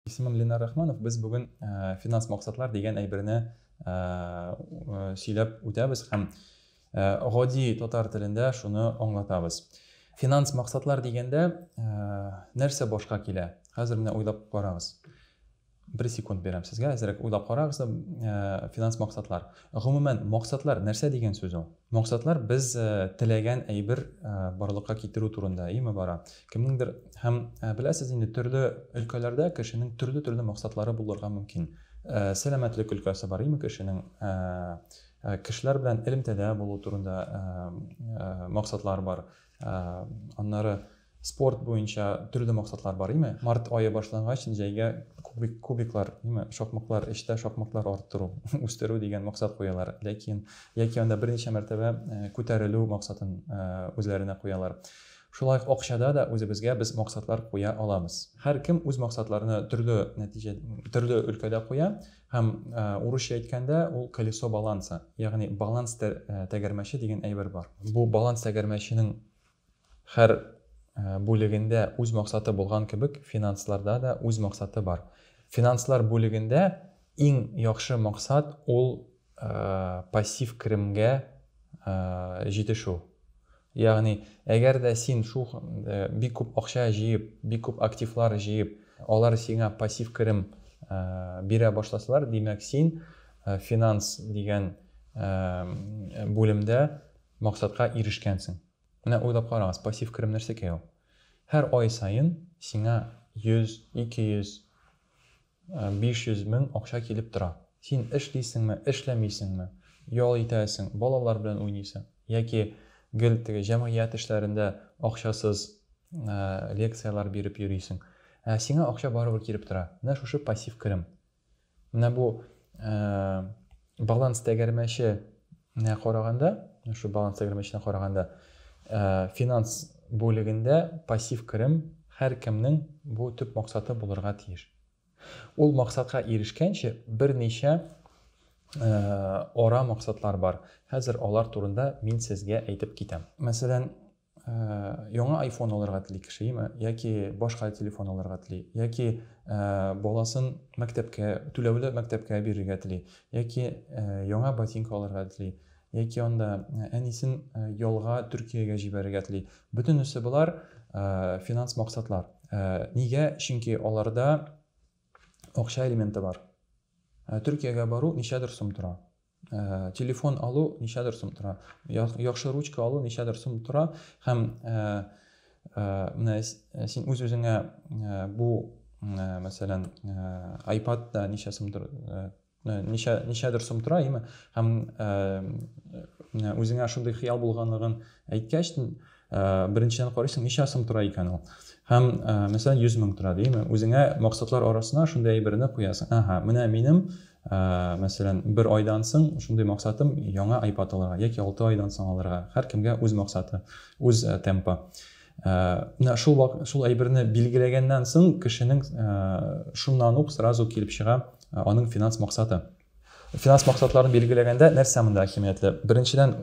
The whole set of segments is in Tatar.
Исемем Ленар Рахманов. Без бүген финанс максатлар дигән әйберне сөйләп үтәбез һәм гади татар телендә шуны аңлатабыз. Финанс максатлар дигәндә нәрсә башка килә? Хәзер менә уйлап карагыз. Бер секунд бирәм сезгә, әзрәк уйлап карагыз, э, финанс максатлар. Гомумән, максатлар нәрсә дигән сүз ул? Максатлар без э, теләгән әйбер э, барлыкка китерү турында, име бара. Кемнеңдер һәм беләсез инде, төрле өлкәләрдә кешенең төрле-төрле максатлары булырга мөмкин. Сәламәтлек өлкәсе бар, име кешенең кешеләр белән элемтәдә булу турында максатлар бар. Ә, аннары спорт буенча төрле максатлар бар, име? Март айы башлангач, җәйгә кубик, кубиклар, име? Шакмаклар, эштә шакмаклар арттыру, үстерү дигән максат куялар. Ләкин, яки анда берничә мәртәбә э, күтәрелү максатын э, үзләренә куялар. Шулай ук акчада да үзебезгә без максатлар куя аламыз. Һәр кем үз максатларны төрле нәтиҗә, төрле өлкәдә куя. Һәм, урысча әйткәндә, ул колесо баланса, ягъни баланс тәгәрмәче дигән әйбер бар. Бу баланс тәгәрмәченең һәр бүлегендә үз максаты булган кебек, финансларда да үз максаты бар. Финанслар бүлегендә иң яхшы максат ул пассив керемгә җитешү. Ягъни, әгәр дә син шул бик күп акча җыеп, бик күп активлар җыеп, алар сиңа пассив керем бирә башласалар, димәк, син финанс дигән бүлемдә максатка ирешкәнсең. Менә уйлап карагыз, пассив керем нәрсәкәй ул? Һәр ай саен сиңа 100, 200 500 мең акча килеп тора. Син эшлисеңме, эшләмисеңме, ял итәсең, балалар белән уйныйсың, яки гел теге җәмгыять эшләрендә акчасыз лекцияләр биреп йөрисең, ә сиңа акча барыбер килеп тора. Менә шушы пассив керем. Менә бу Баланс тәгәрмәче нә караганда, шул баланс тәгәрмәченә караганда, финанс бүлегендә пассив керем һәркемнең бу төп максаты булырга тиеш. Ул максатка ирешкәнче берничә ара максатлар бар. Хәзер алар турында мин сезгә әйтеп китәм. Мәсәлән, Яңа айфон алырга тели кешеме, яки башка телефон алырга тели, яки баласын мәктәпкә, түләүле мәктәпкә бирергә тели, яки яңа ботинка алырга тели, яки анда әнисен ялга Төркиягә җибәрергә тели. Бөтенесе болар финанс максатлар. Нигә? Чөнки аларда акча элементы бар. Төркиягә бару ничәдер сум тора. ә, телефон алу ничәдер сум тора яхшы ручка алу ничәдер сум тора һәм ә, ә, менә син үз үзеңә ә, бу ә, мәсәлән ә, iPad та ничә сум тора ә, ничә ничәдер сум тора яме һәм ә, үзеңә шундый хыял булганлыгын әйткәч Беренчедән карыйсың, ничә сум тора икән ул? Һәм, мәсәлән, 100 мең тора димме? Үзеңә максатлар арасына шундый әйберне куясың. Әһә, менә минем, мәсәлән, бер айдан соң шундый максатым яңа айпад алырга яки алты айдан соң алырга. Һәркемгә үз максаты, үз темпы. Менә шул вак, шул әйберне билгеләгәннән соң кешенең шуннан ук сразу килеп чыга аның финанс максаты. Финанс максатларын билгеләгәндә нәрсә монда әһәмиятле? Беренчедән,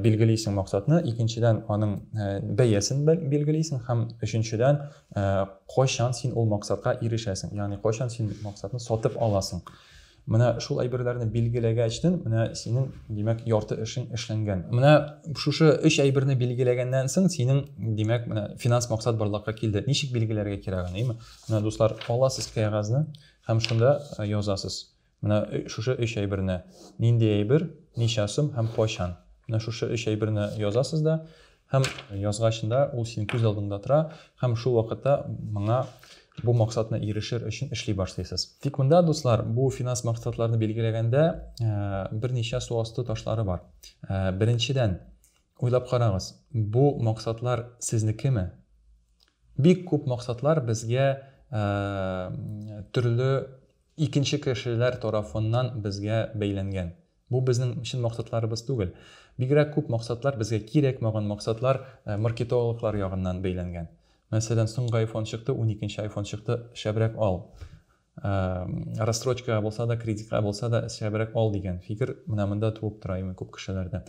билгелисең максатны, икенчедән, аның бәясен билгелисең һәм өченчедән, кайчан син ул максатка ирешәсең, ягъни кайчан син максатны сатып аласың. Менә шул әйберләрне билгеләгәчтен, менә синең, димәк, ярты эшең эшләнгән. Менә шушы өч әйберне билгеләгәннән соң, синең, димәк, менә финанс максат барлыкка килде. Ничек билгеләргә кирәк аны, әйеме? Менә, дуслар, аласыз кәгазьне, Һәм шунда язасыз. Менә шушы өч әйберне, нинди әйбер, ничә сум һәм кайчан. Менә шушы өч әйберне язасыз да, һәм язгач да ул синең күз алдыңда тора, һәм шул вакытта моңа бу максатны ирешер өчен эшли башлыйсыз. Тик монда, дуслар, бу финанс максатларны билгеләгәндә берничә су асты ташлары бар. Беренчедән, уйлап карагыз, бу максатлар сезнекеме? Бик күп максатлар безгә төрле икенче кешеләр тарафыннан безгә бәйләнгән. Бу безнең чын максатларыбыз түгел. Бигрәк күп максатлар безгә кирәкмәгән максатлар маркетологлар ягыннан бәйләнгән. Мәсәлән, соңгы айфон чыкты, уникенче айфон чыкты, шәбрәк ал. Рассрочкага булса да, кредитка булса да шәбрәк ал дигән фикер менә монда туып тора имин күп кешеләрдә.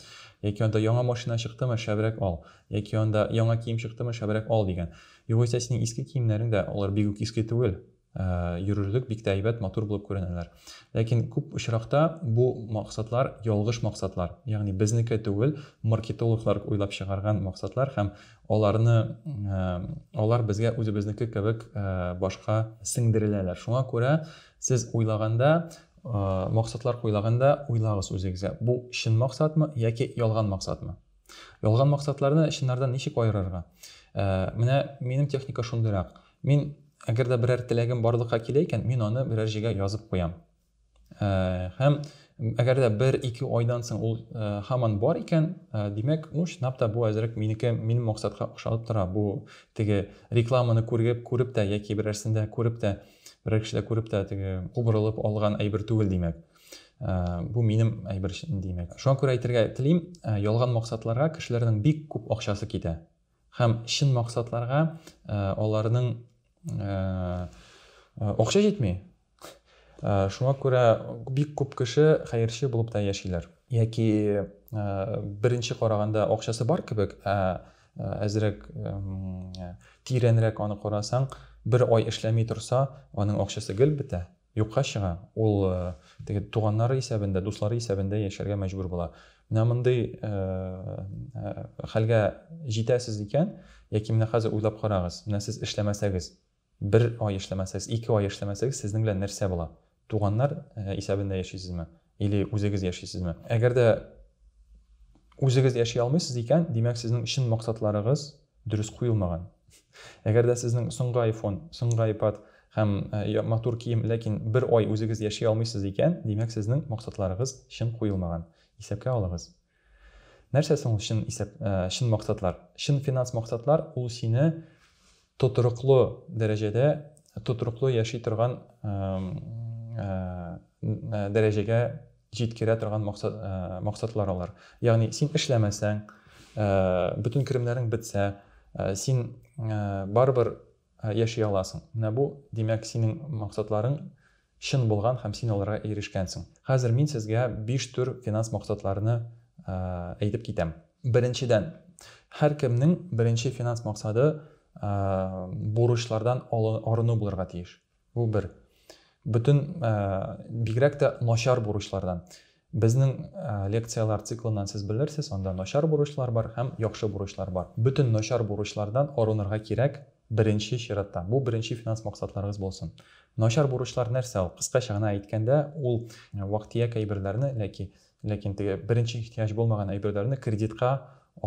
Яки анда яңа машина чыктымы, шәбрәк ал. Яки анда яңа кием чыктымы, шәбрәк ал дигән. Югыйсә синең иске киемнәрең дә, алар бик үк иске түгел, йөрерлек бик тә әйбәт, матур булып күренәләр. Ләкин күп очракта бу максатлар ялгыш максатлар. Ягъни безнеке түгел, маркетологлар уйлап чыгарган максатлар һәм Аларны, алар безгә үзебезнеке кебек башка сеңдереләләр. Шуңа күрә сез уйлаганда, максатлар куйлаганда уйлагыз үзегезгә, бу чын максатмы яки ялган максатмы? Ялган максатларны чыннардан ничек аерырга? Менә минем техника шундыйрак. Мин, әгәр дә берәр теләгем барлыкка килә икән, мин аны берәр җиргә язып куям. Һәм әгәр дә бер-ике айдан соң ул һаман бар икән, димәк, ну, чынлап та бу әзрәк минеке, минем максатка ошалып тора. Бу теге рекламаны күреп, күреп тә яки берәрсендә күреп тә, берәр кешедә күреп тә теге кубрылып алган әйбер түгел, димәк. Бу минем әйбер, димәк. Шуңа күрә әйтергә телим, ялган максатларга кешеләрнең бик күп акчасы китә. Һәм чын максатларга аларның акча җитми. Шуңа күрә бик күп кеше хәерче булып та яшиләр. Яки беренче караганда акчасы бар кебек, ә әзрәк тирәнрәк аны карасаң, бер ай эшләми торса, аның акчасы гел бетә. Юкка чыга, ул теге туганнары исәбендә, дуслары исәбендә яшәргә мәҗбүр була. Менә мондый хәлгә җитәсез икән, яки менә хәзер уйлап карагыз, менә сез эшләмәсәгез, бер ай эшләмәсәгез, ике ай эшләмәсәгез, сезнең белән нәрсә була? Туганнар исәбендә яшисезме? Или үзегез яшисезме? Әгәр дә үзегез яши алмыйсыз икән, димәк, сезнең чын максатларыгыз дөрес куелмаган. Әгәр дә сезнең соңгы айфон, соңгы айпад һәм э, матур кием, ләкин бер ай үзегез яши алмыйсыз икән, димәк, сезнең максатларыгыз чын куелмаган. Исәпкә алыгыз. Нәрсә соң ул чын исәп, чын максатлар? Чын финанс максатлар, ул сине тотрыклы дәрәҗәдә, тотрыклы яши торган дәрәҗәгә җиткерә торган максат, максатлар алар. Ягъни син эшләмәсәң, бөтен керемнәрең бетсә, син барыбер яши аласың. Менә бу, димәк, синең максатларың чын булган һәм син аларга ирешкәнсең. Хәзер мин сезгә биш төр финанс максатларны әйтеп китәм. Беренчедән, һәркемнең беренче финанс максаты бурычлардан арыну булырга тиеш. Бу бер. Бөтен, бигрәк тә начар бурычлардан. Безнең лекцияләр циклыннан сез белерсез, анда начар бурычлар бар һәм яхшы бурычлар бар. Бөтен начар бурычлардан арынырга кирәк, беренче чиратта. Бу беренче финанс максатларыгыз булсын. Начар бурычлар нәрсә ул? Кыскача гына әйткәндә, ул вак-төяк әйберләрне, ләки, ләкин теге беренче ихтыяҗ булмаган әйберләрне кредитка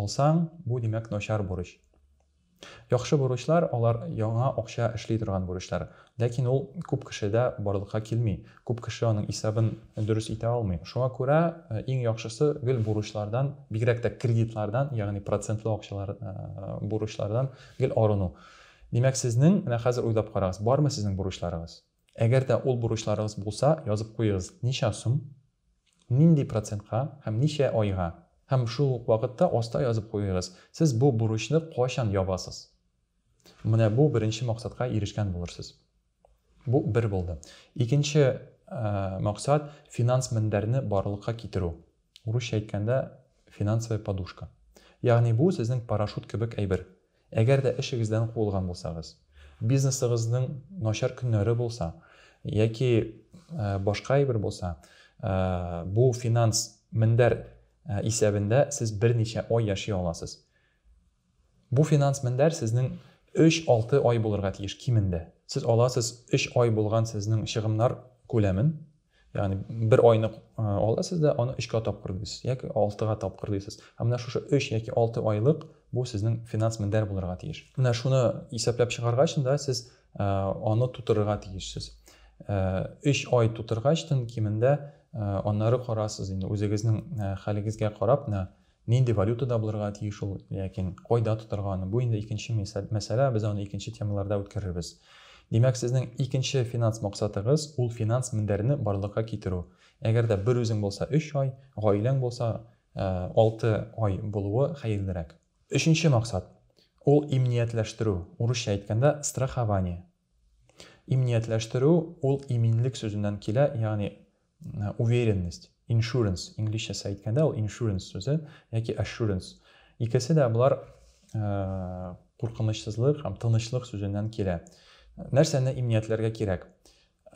алсаң, бу, димәк, начар бурыч. Яхшы бурычлар, алар яңа акча эшли торган бурычлар. Ләкин ул күп кешедә барлыкка килми, күп кеше аның исәбен дөрес итә алмый. Шуңа күрә иң яхшысы гел бурычлардан, бигрәк тә кредитлардан, ягъни процентлы акчалар, бурычлардан гел арыну. Димәк, сезнең, менә хәзер уйлап карагыз, бармы сезнең бурычларыгыз? Әгәр дә ул бурычларыгыз булса, язып куегыз, ничә сум, нинди процентка һәм ничә айга. Һәм шул ук вакытта аста язып куегыз, сез бу бурычны кайчан ябасыз. Менә бу беренче максатка ирешкән булырсыз. Бу бер булды. Икенче максат, финанс мендәрне барлыкка китерү. Урысча әйткәндә, финансовая подушка. Ягъни бу сезнең парашют кебек әйбер. Әгәр дә эшегездән куылган булсагыз, бизнесыгызның начар көннәре булса, яки башка әйбер булса, бу финанс мендәр исәбендә сез берничә ай яши аласыз. Бу финанс мендәр сезнең 3-6 ай булырга тиеш кимендә. Сез аласыз 3 ай булган сезнең чыгымнар күләмен, Ягъни бер айны аласыз да, аны өчкә тапкыр дисез, яки алтыга тапкыр дисез. Ә менә шушы өч яки алты айлык бу сезнең финанс мендәр булырга тиеш. Менә шуны исәпләп чыгаргач да сез аны тутырырга тиешсез. Өч ай тутыргачтын кимендә аннары карасыз инде үзегезнең хәлегезгә карап, менә Нинди валютада булырга тиеш ул, ләкин кайда тотарга аны, бу инде икенче мәсьәлә, без аны икенче темаларда үткәрербез. Димәк, сезнең икенче финанс максатыгыз, ул финанс мендәрне барлыкка китерү. Әгәр дә бер үзең булса, өч ай, гаиләң булса, алты ай булуы хәерлерәк. Өченче максат, ул имниятләштерү, урысча әйткәндә, страхование. Иминиятләштерү ул иминлек сүзеннән килә, ягъни уверенность, insurance, инглизчәсә әйткәндә ул insurance сүзе яки assurance. Икесе дә болар куркынычсызлык һәм тынычлык сүзеннән килә. Нәрсәне иминиятләргә кирәк?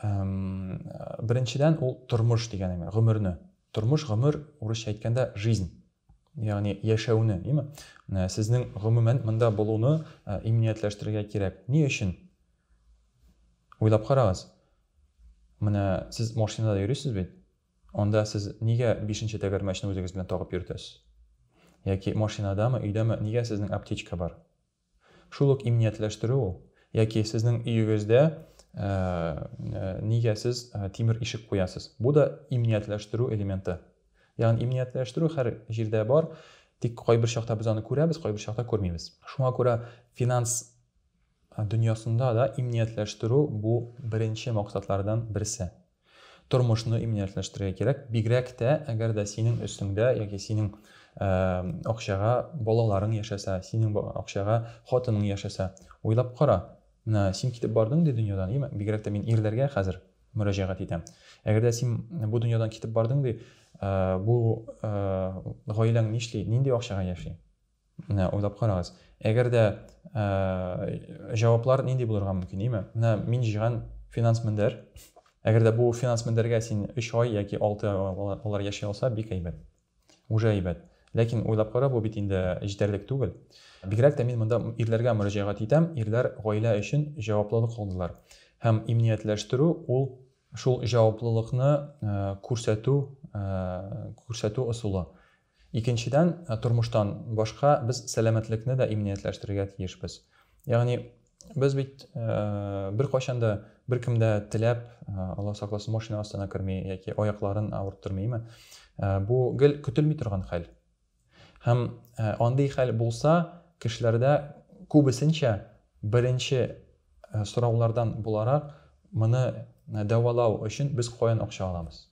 Беренчедән ул тормыш дигәнең, гомерне. Тормыш, гомер, урысча әйткәндә жизнь. ягъни яшәүне, димме? Менә сезнең гомумән монда булуны иминиятләштерергә кирәк. Ни өчен? Уйлап карагыз. Менә сез машинада йөрисез бит. Анда сез нигә бишенче тәгәрмәчне үзегез белән тагып йөртәсез? Яки машинадамы, өйдәме, нигә сезнең аптечка бар? Шул ук иминиятләштерү ул. Яки сезнең өегездә нигә сез тимер ишек куясыз? Бу да иминиятләштерү элементы. Ягъни иминиятләштерү һәр җирдә бар, тик кайбер чакта без аны күрәбез, кайбер чакта күрмибез. Шуңа күрә финанс дөньясында да иминиятләштерү бу беренче максатлардан берсе. Тормышны иминиятләштерергә кирәк, бигрәк тә әгәр дә синең өстеңдә яки синең акчага балаларың яшәсә, синең акчага хатының яшәсә. Уйлап кара, менә син китеп бардың ди дөньядан, име? Бигрәк тә мин ирләргә хәзер мөрәҗәгать итәм. Әгәр дә син бу дөньядан китеп бардың ди, бу гаиләң нишли, нинди акчага яши? Менә уйлап карагыз. Әгәр дә җаваплар нинди булырга мөмкин, име? Менә мин җыйган финанс мендәр. Әгәр дә бу финанс мендәргә син 3 ай яки 6 ай алар яши алса, бик әйбәт. Уже әйбәт. Ләкин уйлап кара, бу бит инде җитәрлек түгел. Бигрәк тә мин монда ирләргә мөрәҗәгать итәм. Ирләр гаилә өчен җаваплылык алдылар. Һәм иминиятләштерү ул шул җаваплылыкны күрсәтү, күрсәтү ысулы. Икенчедән, тормыштан башка без сәламәтлекне дә иминиятләштерергә тиешбез. Ягъни без бит беркайчан да беркем дә теләп, Алла сакласын, машина астына керми яки аякларын авырттырмыймы? Бу гел көтелми торган хәл. Һәм андый хәл булса, кешеләрдә күбесенчә беренче сораулардан буларак, моны дәвалау өчен без каян акча алабыз?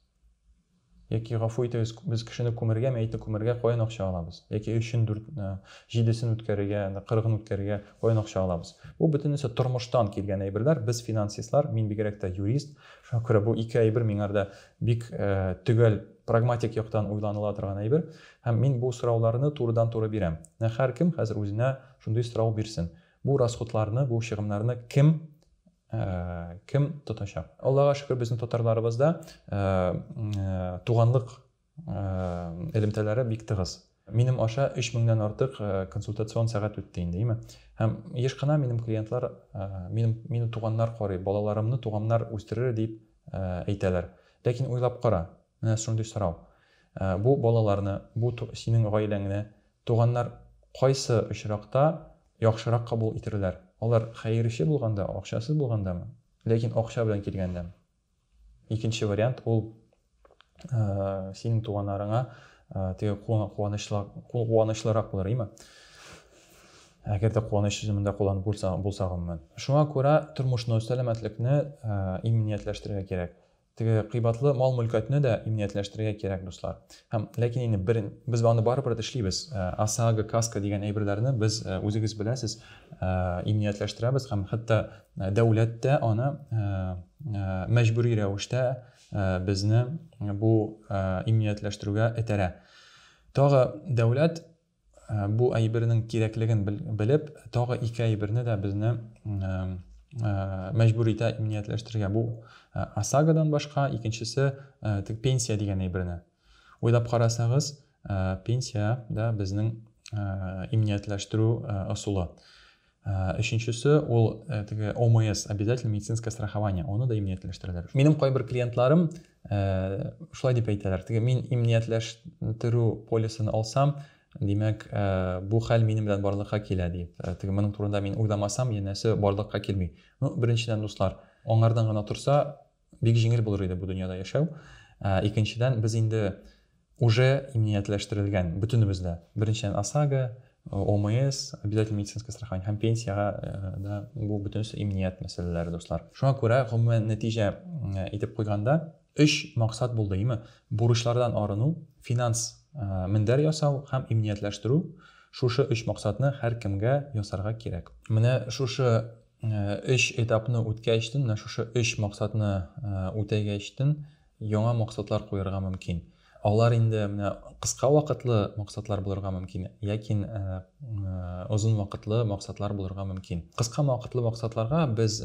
Яки, гафу итегез, без кешене күмергә, мәетне күмергә каян акча алабыз? Яки өчен, дүрт, җидесен үткәрергә, кырыгын үткәрергә каян акча алабыз? Бу бөтенесе тормыштан килгән әйберләр. Без финансистлар, мин бигрәк тә юрист. Шуңа күрә бу ике әйбер миңарда бик төгәл, прагматик яктан уйланыла торган әйбер. Һәм мин бу сорауларны турыдан-туры бирәм. Менә һәркем хәзер үзенә шундый сорау бирсен. Бу расходларны, бу чыгымнарны кем Кем тотачак? Аллага шөкер, безнең татарларыбызда туганлык элемтәләре бик тыгыз. Минем аша 3 меңнән артык консультацион сәгать үтте инде, име? Һәм еш кына минем клиентлар, минем, мине туганнар карый, балаларымны туганнар үстерер дип әйтәләр. Ләкин уйлап кара. Менә шундый сорау. Бу балаларны, бу синең гаиләңне туганнар кайсы очракта яхшырак кабул итерләр? Алар хәерче булганда, акчасыз булгандамы, ләкин акча белән килгәндәме? Икенче вариант ул синең туганнарыңа теге куанычлырак булыр, име? Әгәр дә куаныч сүзен монда кулланып булса, булса гомумән. Шуңа күрә тормышны, сәламәтлекне иминиятләштерергә кирәк. Теге кыйбатлы мал-мөлкәтне дә иминиятләштерергә кирәк, дуслар. Һәм, ләкин инде бер, без аны барыбер эшлибез. ОСАГО, каска дигән әйберләрне без, үзегез беләсез, иминиятләштерәбез һәм хәтта дәүләт тә аны мәҗбүри рәвештә безне бу иминиятләштерүгә этәрә. Тагы дәүләт Бу әйбернең кирәклеген белеп, тагы ике әйберне дә безне мәҗбүр итә иминиятләштерергә. Бу ОСАГОдан башка икенчесе теге пенсия дигән әйберне. Уйлап карасагыз, пенсия дә безнең иминиятләштерү ысулы. Ә, өченчесе ул ә, э, теге ОМС, обязательно медицинское страхование, аны да иминиятләштерәләр. Минем кайбер клиентларым ә, э, шулай дип әйтәләр, теге мин иминиятләштерү полисын алсам, димәк, ә, бу хәл минем белән барлыкка килә дип. Ә, теге моның турында мин уйламасам, янәсе барлыкка килми. Ну, беренчедән, дуслар, аңардан гына торса, Бик җиңел булыр иде бу дөньяда яшәү. Икенчедән, без инде уже иминиятләштерелгән, бөтенебез дә. Беренчедән, ОСАГО, ОМС, обязательный медицинское страхование һәм пенсиягә да бу бөтенесе иминият мәсьәләләре, дуслар. Шуңа күрә, гомумән нәтиҗә итеп куйганда, өч максат булды, име? Бурычлардан арыну, финанс мендәр ясау һәм иминиятләштерү, шушы өч максатны һәркемгә ясарга кирәк. Менә шушы Өч этапны үткәчтен, менә шушы өч максатны үтәгәчтен, яңа максатлар куярга мөмкин. Алар инде менә кыска вакытлы максатлар булырга мөмкин, ләкин озын вакытлы максатлар булырга мөмкин. Кыска вакытлы максатларга без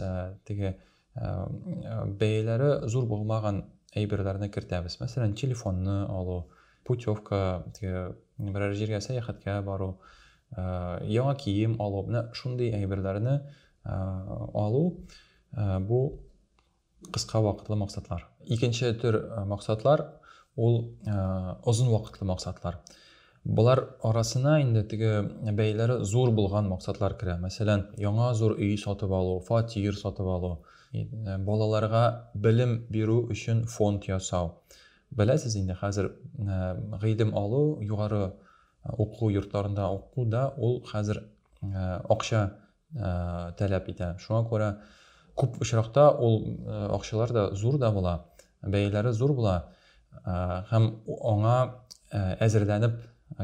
теге бәяләре зур булмаган әйберләрне кертәбез. Мәсәлән, телефонны алу, путевка теге берәр җиргә сәяхәткә бару яңа кием алу менә шундый әйберләрне алу бу кыска вакытлы максатлар икенче төр максатлар ул озын вакытлы максатлар Болар арасына инде теге бәяләре зур булган максатлар керә. Мәсәлән, яңа зур өй сатып алу, фатир сатып алу, балаларга белем бирү өчен фонд ясау, Беләсез инде, хәзер гыйлем алу, югары уку йортларында уку да ул хәзер акча таләп итә. Шуңа күрә күп очракта ул акчалар да зур да була, бәяләре зур була һәм аңа әзерләнеп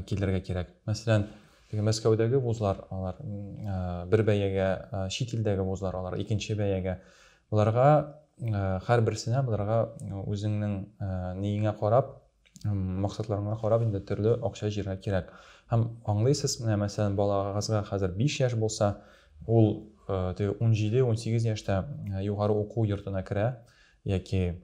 килергә кирәк. Мәсәлән, теге Мәскәүдәге вузлар, алар бер бәягә, чит илдәге вузлар, алар икенче бәягә Боларга һәрберсенә боларга үзеңнең ниеңә карап, максатларыңа карап инде төрле акча җиргә кирәк. Һәм аңлыйсыз, менә мәсәлән, балагызга хәзер 5 яшь булса, ул 17-18 яшьтә югары уку йортына керә яки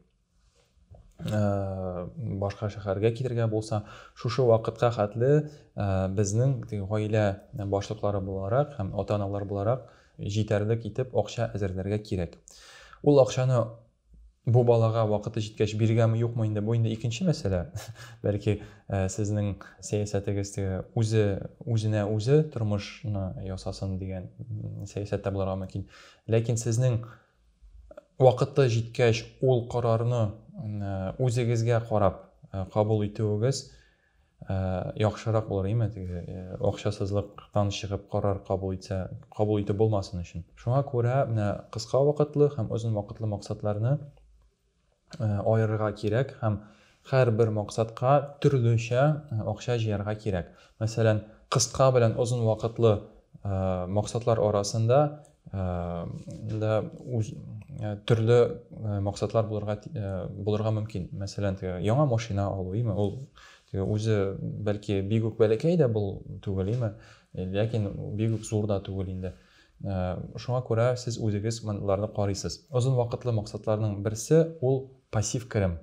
Э, башка шәһәргә китергә булса шушы вакытка хәтле э, безнең гаилә башлыклары буларак һәм ата аналар буларак җитәрлек итеп акча әзерләргә кирәк ул акчаны бу балага вакыты җиткәч биргәме юкмы инде бу инде икенче мәсьәлә бәлки э, сезнең сәясәтегез үзе үзенә үзе тормышны ясасын дигән сәясәттә булырга мөмкин ләкин сезнең Вакыты җиткәч, ул карарны үзегезгә карап кабул итүегез яхшырак булыр, име, теге акчасызлыктан чыгып карар кабул итсә, кабул итеп булмасын өчен. Шуңа күрә менә кыска вакытлы һәм озын вакытлы максатларны аерырга кирәк һәм һәрбер максатка төрлечә акча җыярга кирәк. Мәсәлән, кыска белән озын вакытлы максатлар арасында да төрле максатлар булырга булырга мөмкин. Мәсәлән, теге яңа машина алу, име, ул теге үзе бәлки бигүк бәләкәй дә бул түгел, име, ләкин бигүк зур да түгел инде. Шуңа күрә сез үзегез монларны карыйсыз. Озын вакытлы максатларның берсе ул пассив керем.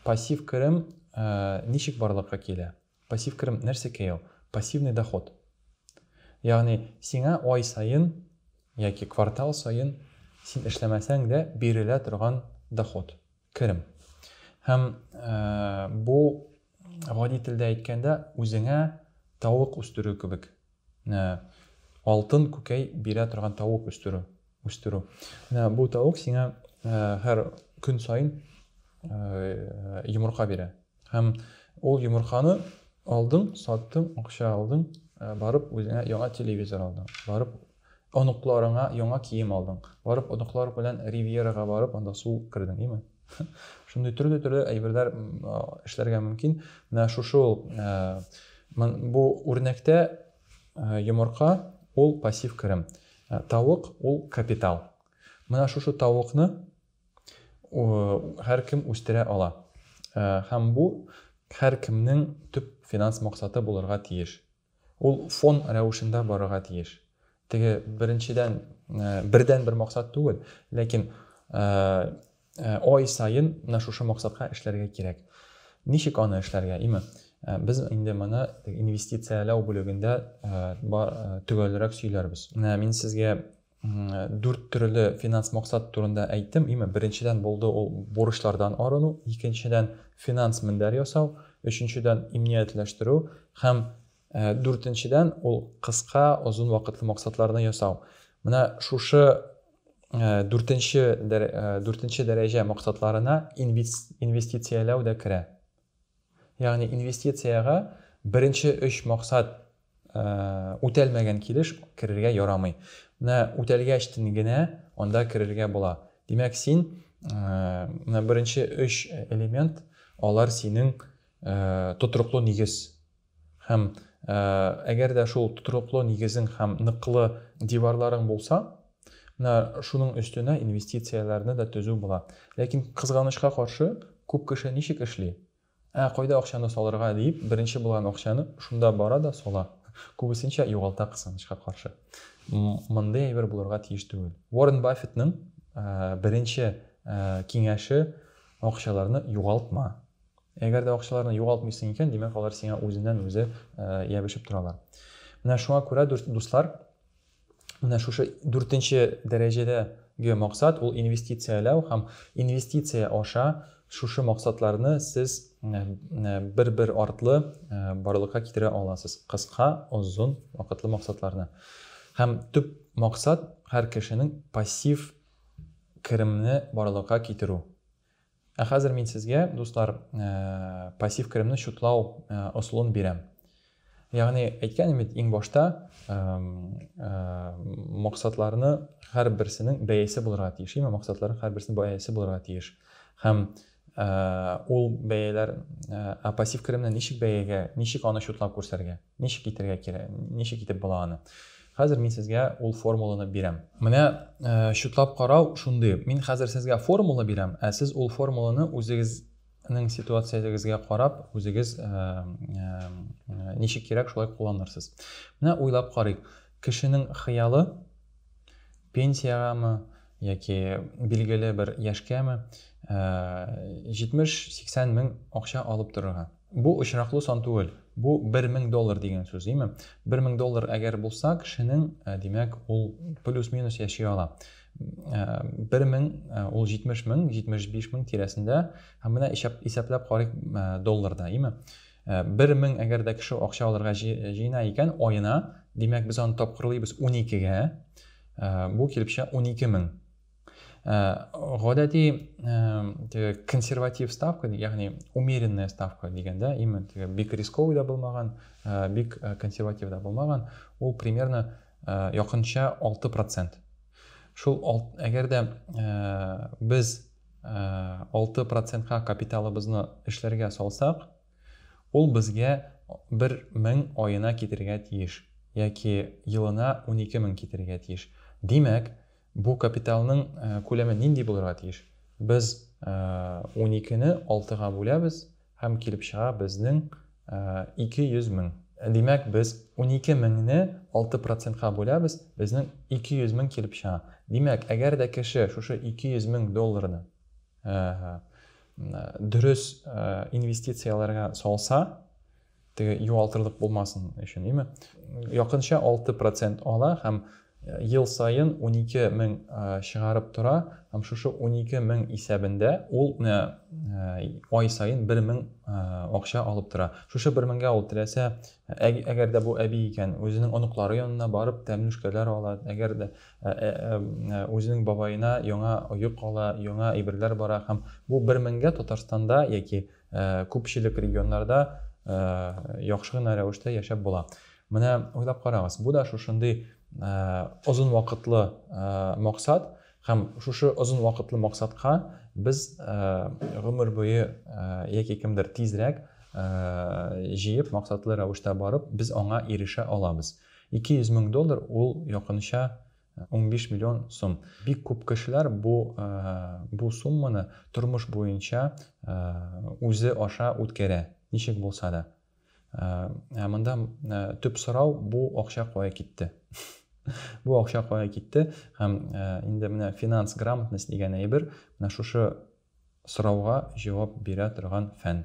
Пассив керем ничек барлыкка килә? Пассив керем нәрсәкәй ул? Пассивный доход. Ягъни сиңа ай саен яки квартал саен син эшләмәсәң дә бирелә торган доход, керем. Һәм бу гади телдә әйткәндә үзеңә тавык үстерү кебек. Менә алтын күкәй бирә торган тавык үстерү, үстерү. Менә бу тавык сиңа һәр көн саен йомырка бирә. Һәм ул йомырканы алдың, саттың, акча алдың, барып үзеңә яңа телевизор алдың, барып оныкларыңа яңа кием алдың, барып оныклар белән Ривьерага барып анда су кердең, име? Шундый төрле-төрле әйберләр эшләргә мөмкин. Менә шушы ул э, бу үрнәктә э, йомырка ул пассив керем. Э, тавык ул капитал. Менә шушы тавыкны һәр кем үстерә ала. Һәм бу һәр кемнең төп финанс максаты булырга тиеш. Ул фон рәвешендә барырга тиеш. Теге беренчедән бердәнбер максат түгел, ләкин ай саен менә шушы максатка эшләргә кирәк. Ничек аны эшләргә? Име, без инде моны инвестицияләү бүлегендә төгәлрәк сөйләрбез. Менә мин сезгә Дүрт төрле финанс максат турында әйттем. Име, беренчедән булды ул бурычлардан арыну, икенчедән финанс мендәр ясау, өченчедән имниятләштерү һәм дүртенчедән ул кыска, озын вакытлы максатларны ясау. Менә шушы дүртенче дүртенче дәрәҗә максатларына инвестицияләү дә керә. Ягъни инвестициягә беренче өч максат үтәлмәгән килеш керергә ярамый. Менә үтәлгәчтен генә анда керергә була. Димәк, син менә беренче өч элемент, алар синең тотрыклы нигез. Һәм әгәр дә шул тотрыклы нигезең һәм ныклы диварларың булса, менә шуның өстенә инвестицияләрне дә төзү була. Ләкин, кызганычка каршы, күп кеше ничек эшли? Ә кайда акчаны салырга диеп, беренче булган акчаны шунда бара да сала. Күбесенчә югалта, кызганычка каршы. Мондый әйбер булырга тиеш түгел. Уоррен Баффетның беренче киңәше, акчаларны югалтма. Әгәр дә акчаларны югалтмыйсың икән, димәк, алар сиңа үзеннән-үзе ябешеп торалар. Менә шуңа күрә, дуслар, менә шушы дүртенче дәрәҗәдәге максат, ул инвестицияләү һәм инвестиция аша шушы максатларны сез бер-бер артлы барлыкка китерә аласыз. Кыска, озын вакытлы максатларны. Һәм төп максат һәр кешенең пассив керемне барлыкка китерү. Ә хәзер мин сезгә, дуслар, пассив керемне счетлау ысулын бирәм. Ягъни, әйткәнем бит иң башта, максатларны һәрберсенең бәясе булырга тиеш, яме максатларның һәрберсенең бәясе булырга тиеш. Һәм ул бәяләр, ә пассив керемне ничек бәягә, ничек аны счетлап күрсәргә? Ничек итергә кирәк? Ничек итеп була аны? Хәзер мин сезгә ул формуланы бирәм. Менә э, чутлап карау шундый. Мин хәзер сезгә формула бирәм, ә сез ул формуланы үзегезнең ситуациягезгә карап, үзегез э, э, ничек кирәк шулай кулланырсыз. Менә уйлап карыйк. Кешенең хыялы пенсиягәме яки билгеле бер яшькәме 70-80 мең акча алып торырга. Бу очраклы сан түгел, бу бер мең доллар дигән сүз, име? Бер мең доллар әгәр булса, кешенең, димәк, ул плюс-минус яши ала. Бер мең, ул җитмеш мең, җитмеш биш мең тирәсендә, һәм менә исәпләп карыйк долларда, име? Бер мең әгәр дә кеше акча алырга җыена икән аена, димәк, без аны тапкырлыйбыз уникегә, бу килеп чыга унике мең. гадәти теге консерватив ставка ягъни умеренная ставка дигәндә именно теге бик рисковый да булмаган бик консерватив да булмаган ул примерно якынча 6 процент шул әгәр дә без 6 процентка капиталыбызны эшләргә салсак ул безгә бер мең аена китерергә тиеш яки елына унике мең китерергә тиеш димәк Бу капиталның күләме нинди булырга тиеш? Без уникене алтыга бүләбез һәм килеп чыга безнең 200 мең. Димәк, без унике меңне алты процентка бүләбез, безнең 200 мең килеп чыга. Димәк, әгәр дә кеше шушы 200 мең долларны дөрес инвестицияләргә салса, Теге югалтырлык булмасын өчен, име? Якынча 6 процент ала һәм ел саен 12 мең чыгарып тора һәм шушы 12 мең исәбендә ул ай саен 1 мең акча алып тора. Шушы 1 меңгә ул теләсә, әгәр дә бу әби икән, үзенең оныклары янына барып тәмлүшкәләр ала, әгәр дә үзенең бабаена яңа оек ала, яңа әйберләр бара һәм бу 1 меңгә Татарстанда яки Күпчелек регионнарда яхшы гына рәвештә яшәп була. Менә уйлап карагыз, бу да шушындый озын вакытлы максат һәм шушы озын вакытлы максатка без гомер буе яки кемдер тизрәк җыеп максатлы рәвештә барып, без аңа ирешә алабыз. 200 мең доллар ул якынча 15 миллион сум. Бик күп кешеләр бу бу сумманы тормыш буенча үзе аша үткәрә, ничек булса да. Ә монда төп сорау бу акча кая китте? Бу акча кая китте? Һәм инде менә финанс грамотность дигән әйбер, менә шушы Сорауга җавап бирә торган фән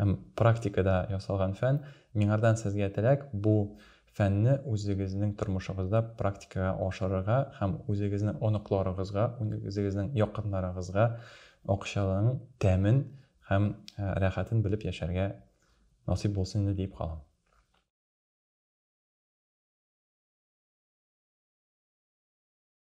һәм практикада ясалган фән. Миңардан сезгә теләк, бу фәнне үзегезнең тормышыгызда практикага ашырырга һәм үзегезнең оныкларыгызга, үзегезнең якыннарыгызга акчаның тәмен һәм рәхәтен белеп яшәргә насыйп булсын инде диеп калам.